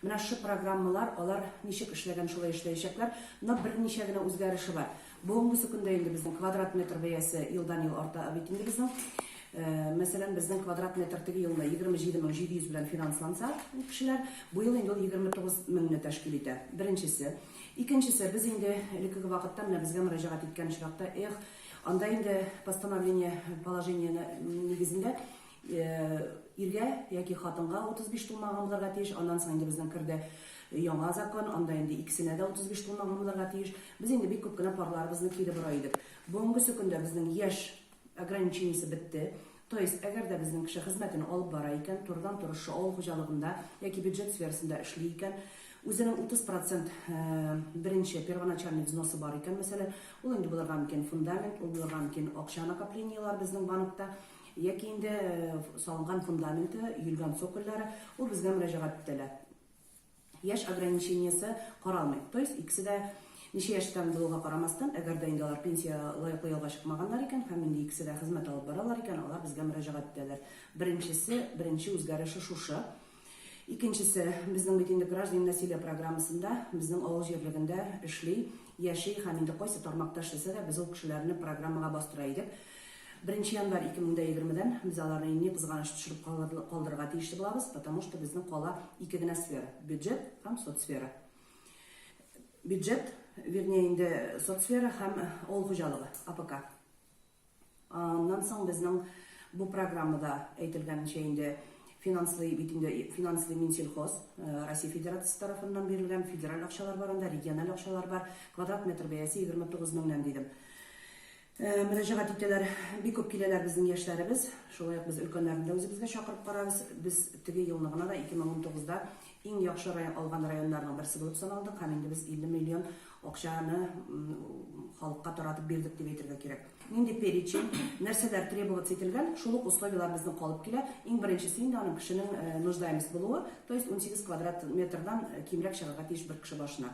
Менә шы программалар, алар ничек эшләгән, шулай эшләячәкләр, но берничә генә үзгәреше бар. Бүгенгесе көндә инде безнең квадрат метр бәясе елдан ел арта бит инде безнең. Мәсәлән, безнең квадрат метр теге елны 27700 белән финансланса, кешеләр, бу ел инде ул 29 меңне тәшкил итә. Беренчесе. Икенчесе, без инде элеккеге вакытта менә безгә мөрәҗәгать иткән очракта, эх, анда инде постановление, положение нигезендә Иргә яки хатынга 35 тулмаган булырга тиеш, аннан соң инде безнең керде яңа закон, анда инде икесенә дә 35 тулмаган булырга тиеш. Без инде бик күп кенә парларыбызны кире бора идек. Бүгенгесе көндә безнең яшь ограничениесе бетте. То есть, әгәр дә безнең кеше хезмәтен алып бара икән, турыдан-туры шушы авыл хуҗалыгында яки бюджет сферасында эшли икән, үзенең 30 процент беренче первоначальный взносы бар икән, мәсәлән, ул инде булырга мөмкин фундамент, ул булырга мөмкин акча накоплениеләр безнең банкта, Яки инде салынган фундаменты, өелгән цокольлары, ул безгә мөрәҗәгать итәлә. Яшь ограничениесе каралмый. То есть икесе дә ничә яшьтән булуга карамастан, әгәр дә инде алар пенсия лаеклы ялга чыкмаганнар икән һәм инде икесе дә хезмәт алып баралар икән, алар безгә мөрәҗәгать итәләр. Беренчесе, беренче үзгәреше шушы. Икенчесе, безнең бит инде Граждане насилия программасында безнең авыл җирлегендә эшли, яши һәм инде кайсы тармакта эшләсә дә, без ул кешеләрне программага бастыра идек. Беренче январь 2020 дән без аларны, ни кызганыч, төшереп калдырырга тиешле булабыз, потому что безнең кала ике генә сфера, бюджет һәм соцсфера. Бюджет, вернее, инде соцсфера һәм авыл хуҗалыгы, АПК. Аннан соң безнең бу программада әйтелгәнчә инде финанслый бит инде финанслый Минсельхоз Россия Федерациясе тарафыннан бирелгән федераль акчалар бар анда, региональ акчалар бар. Квадрат метр бәясе 29 меңнән дидем. Мөрәҗәгать итәләр. Бик күп киләләр безнең яшьләребез. Шулай ук без өлкәннәрне дә үзебезгә чакырып карабыз. Без теге елны гына да 2019да Иң яхшы район алган районнарның берсе булып саналдык һәм инде без 50 миллион акчаны халыкка таратып бирдек дип әйтергә кирәк. Нинди перечень, нәрсәләр требоваться ителгән, шул ук условияләр безнең калып килә. Иң беренчесе инде аның кешенең нуждаемость булуы, то есть 18 квадрат метрдан кимрәк чыгарга тиеш бер кеше башына.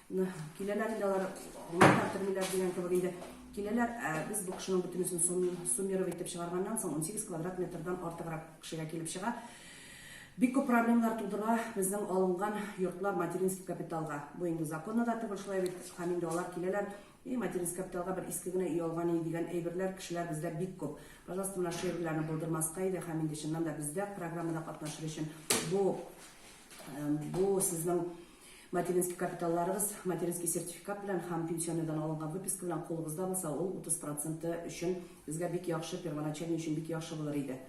Киләләр инде алар, аңлата термиләр дигән кебек инде. Киләләр, ә без бу кешенең бөтенесен суммировать итеп чыгарганнан соң 18 квадрат метрдан артыграк кешегә килеп чыга. Бик күп проблемалар тудыра безнең алынган йортлар материнский капиталга. Бу инде законда да түгел шулай бит. Һәм инде алар киләләр, и материнский капиталга бер иске генә өй алган иде дигән әйберләр кешеләр бездә бик күп. Пожалуйста, менә шул әйберләрне булдырмаска иде һәм инде чыннан да бездә программада катнашыр өчен бу бу сезнең Материнский капиталларыгыз материнский сертификат белән һәм пенсионныйдан алынган выписка белән кулыгызда булса, ул 30 проценты өчен безгә бик яхшы, первоначальный өчен бик яхшы булыр иде.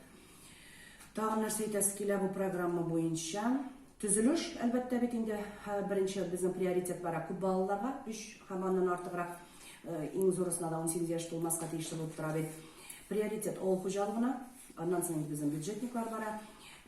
Тагын нәрсә әйтәсе килә бу программа буенча? Төзелеш, әлбәттә бит инде, беренче безнең приоритет бара күп балалыларга, өч һәм аннан артыграк, иң зурысына да 18 яшь тулмаска тиешле булып тора бит. Приоритет авыл хуҗалыгына, Аннан соң безнең бюджетниклар бара.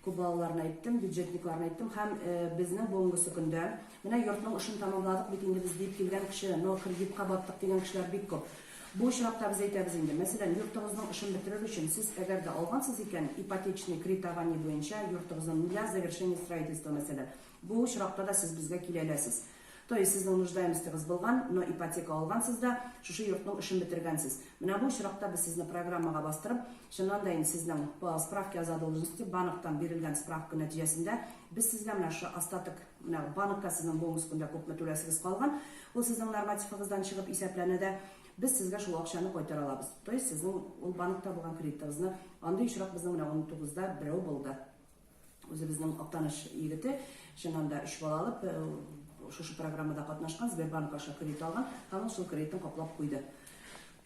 Күп балаларны әйттем, бюджетникларны әйттем һәм безнең бүгенгесе көндә, менә йортның эшен тәмамладык бит инде без дип килгән кеше, но кредитка баттык дигән кешеләр бик күп. Бу очракта без әйтәбез инде, мәсәлән, йортыгызның эшен бетерер өчен сез әгәр дә алгансыз икән, ипотечный кредитование буенча йортыгызны нуля завершение строительства, мәсәлән, Бу очракта да сез безгә килә әләсез. То есть сезнең нуждаемостегыз булган, но ипотека алгансыз да, шушы йортның эшен бетергәнсез. Менә бу очракта без сезне программага бастырып, чыннан да инде сезнең по справке о задолженности, банктан бирелгән справка нәтиҗәсендә, без сезгә менә шушы остаток, менә банкка сезнең бонус көндә күпме түләсегез калган, ул сезнең нормативыгыздан чыгып исәпләнә дә, без сезгә шул акчаны кайтара алабыз. То есть сезнең ул банкта булган кредитыгызны, андый очрак безнең менә 19 да берәү булды. Үзебезнең Актаныш егете, чыннан да өч бала алып, шушы программада катнашкан, Сбербанк аша кредит алган, һәм ул шул кредитын каплап куйды.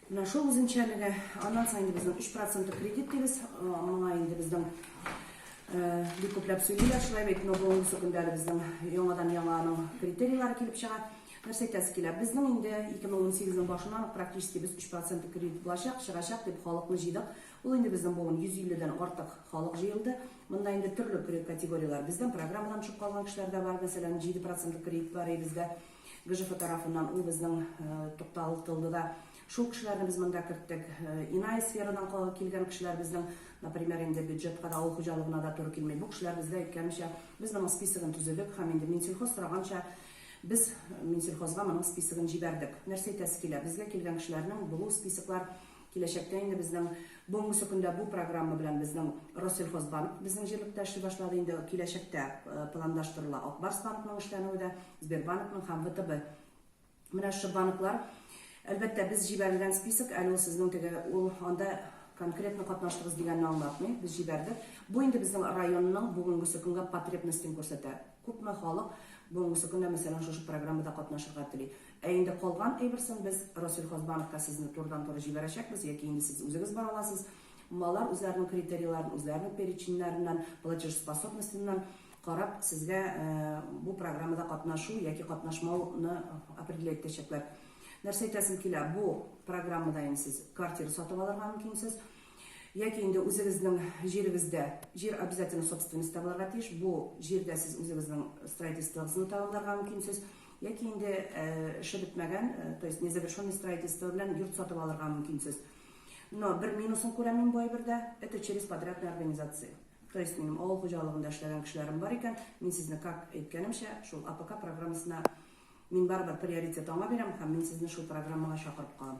Менә шул үзенчәлеге, аннан соң инде безнең 3 проценты кредит дибез, моңа инде безнең бик күпләп сөйлиләр, шулай бит, но бүгенге секундә безнең яңадан яңа аның критерийлары килеп чыга. Нәрсә әйтәсе килә? Безнең инде 2018 нең башыннан практически без 3 проценты кредит булачак, чыгачак дип халыкны җыйдык. Ул инде безнең буын, 150 дән артык халык җыелды. Монда инде төрле кредит категорияләр, бездән программадан төшеп калган кешеләр дә бар, мәсәлән, 7 процентлы кредит бар иде бездә ГЖФ тарафыннан, ул безнең тукталтылды да. Шул кешеләрне без монда керттек. Иная сферадан калган килгән кешеләр безнең, например, инде бюджетка да, авыл хуҗалыгына да туры килми. Бу кешеләр бездә әйткәнемчә, без моның списогын төзедек һәм инде Минсельхоз сораганча, без Минсельхозга моның списогын җибәрдек. Нәрсә әйтәсе килә, безгә килгән кешеләрнең булу списоклар Киләчәктә инде безнең бүгенге көндә бу программа белән безнең Россельхозбанк безнең җирлектә эшли башлады, инде киләчәктә планлаштырыла Ак Барс банкның эшләнүе дә, Сбербанкның һәм ВТБ. Менә шушы банклар Әлбәттә, без җибәрелгән список, әле ул сезнең теге, ул анда конкретно катнаштыгыз дигәнне аңлатмый, без җибәрдек. Бу инде безнең районның бүгенге көнгә потребностен күрсәтә. Күпме халык бүгенгесе көндә, мәсәлән, шушы программада катнашырга тели. Ә инде калган әйберсен без Расил Хазбановка сезне турыдан-туры җибәрәчәкбез, яки инде сез үзегез бара аласыз. Малар үзләренең критерийларын, үзләренең переченьнәреннән, платежеспособностеннан карап, сезгә бу программада катнашу яки катнашмауны определять итәчәкләр. Нәрсә әйтәсем килә, бу программада инде сез квартира сатып алырга мөмкинсез. Яки инде үзегезнең җирегездә, җир обязательно собственностьта булырга тиеш, бу җирдә сез үзегезнең строительствогызны тәмамларга мөмкинсез, яки инде эше бетмәгән, то есть незавершенный строительство белән йорт сатып алырга мөмкинсез. Но бер минусын күрәм мин бу әйбердә, это через подрядные организации. То есть минем авыл хуҗалыгында эшләгән кешеләрем бар икән, мин сезне как әйткәнемчә, шул АПК программасына мин барыбер приоритет аңа бирәм һәм мин сезне шул программага чакырып калам.